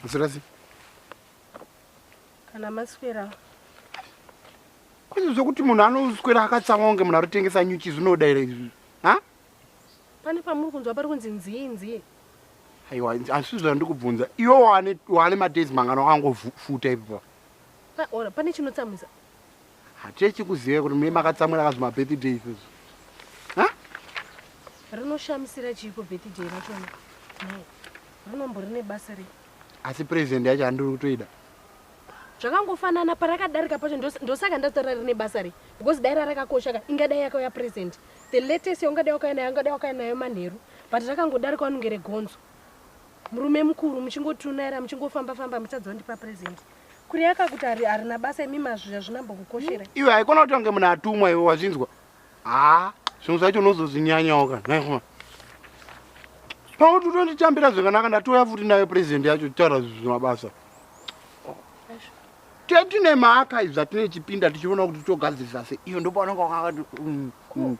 Mzirasi. Kana maswera. Kwese zvokuti munhu anoswera akatsamwa kunge munhu arotengesa nyuchi zvinoda here izvi? Ha? Pane pamuri kunzwa pari kunzi nzii nzii. Aiwa, asi zvandiri kubvunza. Iwe wane wane madays mangano akangofuta ipo. Pa ora, pane chinotsamwisa. Hatechi kuziva kuti mune makatsamwira kazvima birthday izvo. Ha? Rinoshamisira chiiko birthday rachona? Nhai. Rinombori nebasa rei? Asi present yacho handiri kutoida. Zvakangofanana parakadarika pacho ndosaka ndatora rine basa rei? Because dai rarakakosha ka ingadai yakauya present. The latest yaungadai wakauya nayo ungadai wakauya nayo manheru. But rakangodarika wanongere gonzo. Murume mukuru muchingotunaira muchingofamba famba muchadza ndipa present. kuri akakuti ari arina basa imi mazvira zvina mbokukosherai iwe haikona kuti wange munhu atumwa iwe wazvinzwa haa zvinhu zvacho unozozvinyanyawo kana naihwa pakuti utonditambira zvakanaka ndatouya futi nayo president yacho titaura zvinhu zvemabasa tetine maaka izvi zvatine chipinda tichiona kuti togadzirisa se iyo ndopaonanga wakakati mm, mm.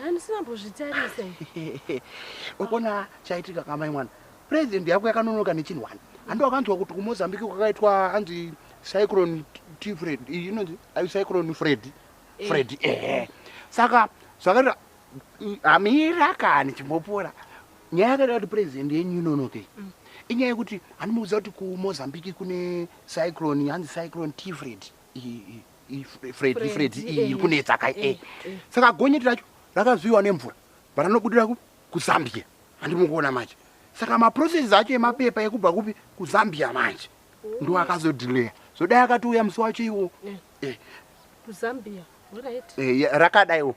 handisina mbozvitarise ukona chaitika kamai mwana President yako yakanonoka nechinhu wani. Handi wakanzwa kuti kuMozambique kwakaitwa anzi cyclone T Fred. You know I cyclone Fred. Eh. Fred. Eh. Saka zvakaita amira kani chimbopora. Nyaya yakaita kuti president yenyu inonoke. Mm. Inyaya yekuti andimuudza kuti kuMozambique kune cyclone hanzi cyclone T Fred. Fred Fred iri kunetsa kai. Eh. Saka gonyeti racho rakazviwa nemvura. Baranobudira ku kuzambia handimukuona manje saka maprocesses acho emapepa ekubva kupi kuzambia manje ndo akazodhileya zodai akatouya musi wacho iwo eh. eh. kuzambia right eh, rakadaiwo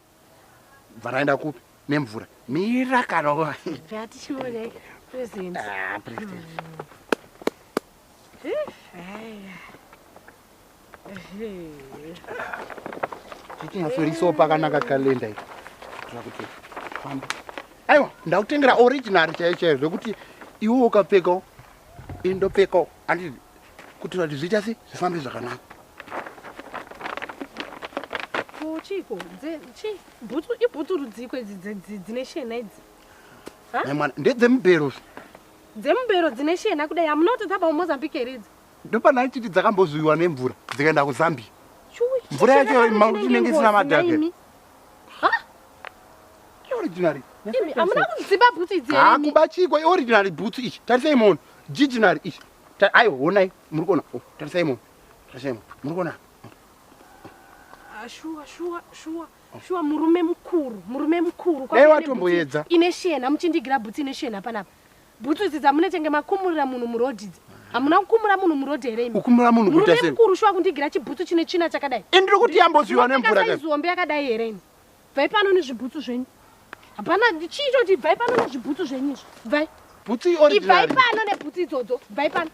bva raenda kupi nemvura mira kana atichione present ah, present mm. eh, Chichinyatsorisoo pakanaka kalenda iko. Kuitira kuti fambe. Aiwa, ndakutengera original chaiyo chaiyo zvekuti iwe ukapfekawo indopfekawo andi kuti kuti zviita sei zvifambe zvakanaka. Ko chiiko? Dze chi bhutsu ibhutsu rudziko idzi dze- dzi- dzine shena idzi. Mai mwana, ndedzemubhero. Dzemubhero dzine shena kudai. I'm not talking about Mozambique here idzi. ndopana achiti dzakambozuiwa nemvura dzikaenda kuzambia mvura yacho inenge isina madhaka originary amuna kuziba bhutsu idzi ha kuba chiko originary bhutsu ichi tarisai mono jiginary ichi aiwa honai muri kuona oh, tarisai mono tarisai mono muri kuona ah, shuwa shuwa shuwa shuwa murume mukuru murume mukuru dai watomboedza ine shena muchindigira bhutsu ine shena panapa Bhutsu idzi dzamunetenge makumurira munhu muroad idzi. Hamuna kukumura munhu muroad here imi? Kukumura munhu kuita sei? Murume mukuru shuwa kundigira chibhutsu chine tsvina chakadai. Ini ndiri kuti yambozviwa nemvura kai. Zihombe yakadai here imi? Bvai pano nezvibhutsu zvenyu. Hapana chiito kuti bvai pano nezvibhutsu zvenyu izvi. Bvai. Bhutsu iori. Ibvai pano nebhutsu idzodzo. Bvai pano.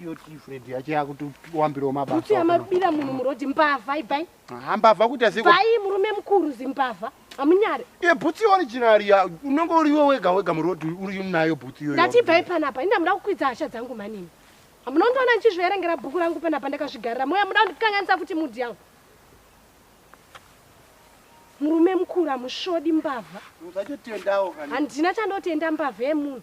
iyo tifred yacho yakuti wambirawo mabasa kuti amabira munhu murodhi mbavha ibai hambavha kuita sei bai murume mukuru zimbavha amunyare e bhutsi original ya unenge uri iwe wega wega murodhi uri nayo bhutsi iyoyo ndati ibai panapa ini ndamuda kukwidza hasha dzangu manini munondiona ndichizvierengera bhuku rangu panapa ndakazvigarira moya muda kundikanganisa futi mudhi yangu murume mukuru hamusvodi mbavha handina chandotenda mbavha yemunhu